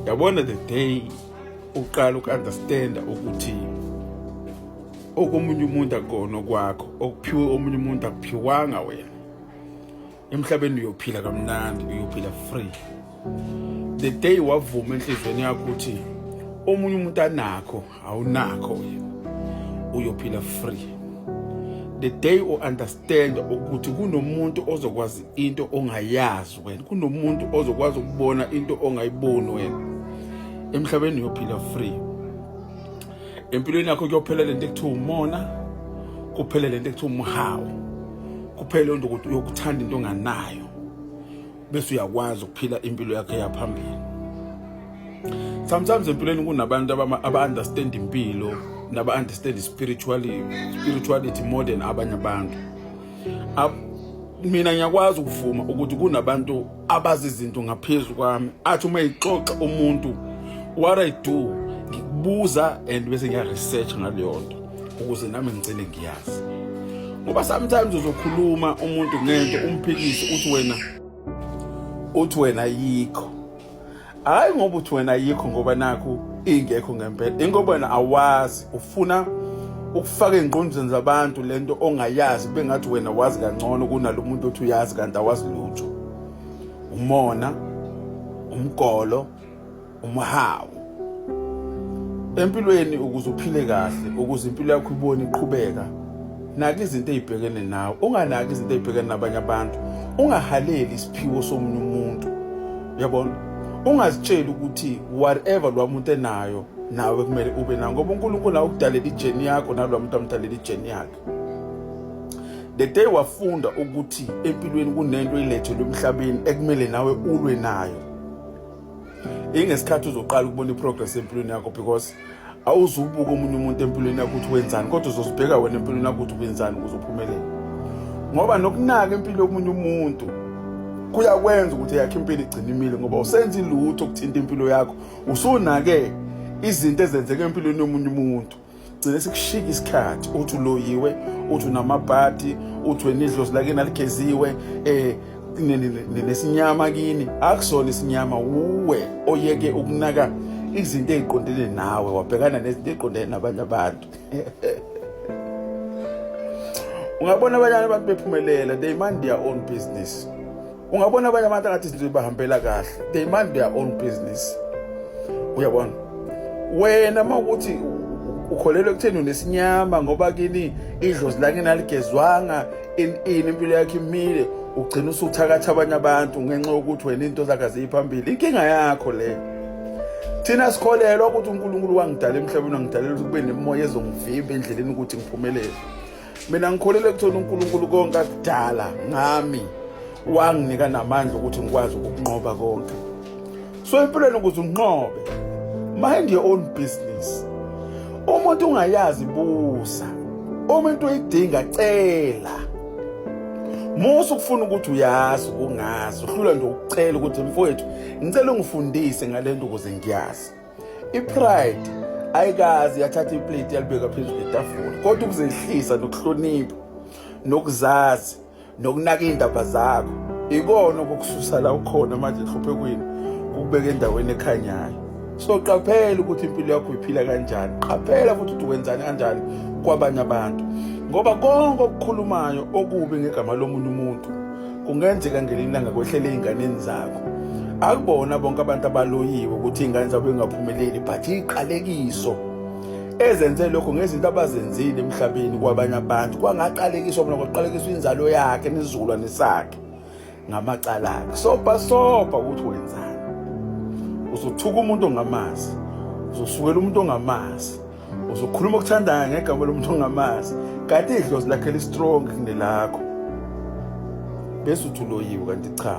yabona the day uqala uku-understanda ukuthi okomunye umuntu akona okwakho okuphiwe omunye umuntu akuphiwanga wena emhlabeni uyophila kamnandi uyophila free the day wavuma enhliziyweni yakho ukuthi omunye umuntu anakho awunakho uyophila free the day u understand ukuthi kunomuntu ozokwazi into ongayazi wena kunomuntu ozokwazi ukubona into ongayiboni wena emhlabeni uyophila free empilweni yakho kuyophela lento ekuthiwa umona kuphele lento ekuthiwa umhawu kuphele lento ukuthi uyokuthanda into onganayo bese uyakwazi ukuphila impilo yakhe yaphambili sometimes empilweni kunabantu aba-understand impilo naba-understand spirituality, spirituality more than abanye abantu mina ngiyakwazi ukuvuma ukuthi kunabantu abazi izinto ngaphezu kwami athi uma yixoxa umuntu what i do ngikubuza and bese ngiya-research ngaleyo nto ukuze nami ngicele ngiyazi ngoba sometimes uzokhuluma umuntu ngento umphikise uthi wena uthi wena yikho hayi ngoba uthi wena yikho ngoba nakho ingekho ngempela ingoba wena awazi ufuna ukufaka engqondweni zabantu lento ongayazi bengathi wena wazi kangcono kunalo muntu othi uyazi kanti awazi lutho umona umgolo umhawu empilweni ukuze uphile kahle ukuze impilo yakho ibone iqhubeka naki izinto ezibhekene nawe unganaki izinto ezibhekene nabanye abantu ungahaleli isiphiwo somunye umuntu yabona ungazitsheli ukuthi whatever lwa muntu enayo nawe kumele ube nayo ngoba uNkulunkulu awukudalela ijeni yakho nalwa muntu amdalela ijeni yakhe the day wafunda ukuthi empilweni kunento ilethelwe emhlabeni ekumele nawe ulwe nayo ingesikhathi uzoqala ukubona iprogress empilweni yakho because awuzubuka omunye umuntu empilweni yakho ukuthi wenzani kodwa uzozibheka wena empilweni yakho ukuthi wenzani ukuze uphumelele ngoba nokunaka impilo yomunye umuntu kuyakwenza ukuthi yakhe impilo igcine imile ngoba usenza ilutho ukuthinta impilo yakho usunake izinto ezenzeka empilweni yomunye umuntu gcine sikushika isikhathi uthi uloyiwe uthi unamabhadi uthi wena idlozi lakini aligeziwe eh nesinyama kini akusona isinyama wuwe oyeke ukunaka izinto eziqondene nawe wabhekana nezinto eziqondene nabanye abantu ungabona abanye abantu bephumelela they mind their own business ungabona abanye abantu angathi izinto zibahambela kahle they mind their own business uyabona wena uma ukuthi ukholelwa ekutheni unesinyama ngoba kini idlozi lakini aligezwanga in in impilo yakhe imile ugcina usuthakatha abanye abantu ngenxa yokuthi wena into zakhe ziyiphambili inkinga yakho le thina sikholelwa ukuthi uNkulunkulu wangidala emhlabeni wangidalela ukuthi kube nemoya ezongivimba endleleni ukuthi ngiphumelele mina ngikholelwa ekutheni unkulunkulu konke akudala ngami wanginika namandla ukuthi ngikwazi ukunqoba konke so empilweni ukuze unqobe mind your own business umuntu ungayazi busa uma into uyidinga cela musa ukufuna ukuthi uyazi kungazi uhlula nje ukucela ukuthi mfowethu ngicela ungifundise ngale nto ukuze ngiyazi ipride ayikazi yathatha iplate yalibeka phezu kwetafula kodwa ukuzehlisa nokuhlonipha nokuzazi nokunaka iy'ndaba zakho ikona okukususa la ukhona manje enhluphekweni kukubeka endaweni ekhanyayo so qaphela ukuthi impilo yakho iphila kanjani qaphela futhi ukuthi wenzani kanjani kwabanye abantu ngoba konke okukhulumayo okubi ngegama lomunye umuntu kungenzeka ngelinanga kwehlele ey'nganeni zakho akubona bonke abantu abaloyiwe ukuthi iy'ngane zabo ingaphumeleli but iqalekiso ezenze lokho ngezinto abazenzile emhlabeni kwabanye abantu kwangaqalekiswa bona kwaqalekiswa inzalo yakhe nesizukulwane sakhe ngamacala akhe sopa sopa ukuthi wenzani uzothuka umuntu ongamazi uzosukela umuntu ongamazi uzokhuluma okuthandayo ngegama lomuntu ongamazi kanti idlozi lakhe listrong kunelakho bese uthi uloyiwe kanti cha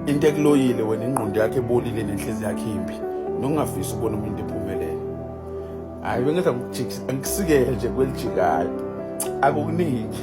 into ekuloyile wena ingqondo yakhe ebolile nenhlezi yakhe imbi nokungafisi ukubona umuntu ephumelele hhayi bengenza ngikujikisa angisikele nje kwelijikayo akukuningi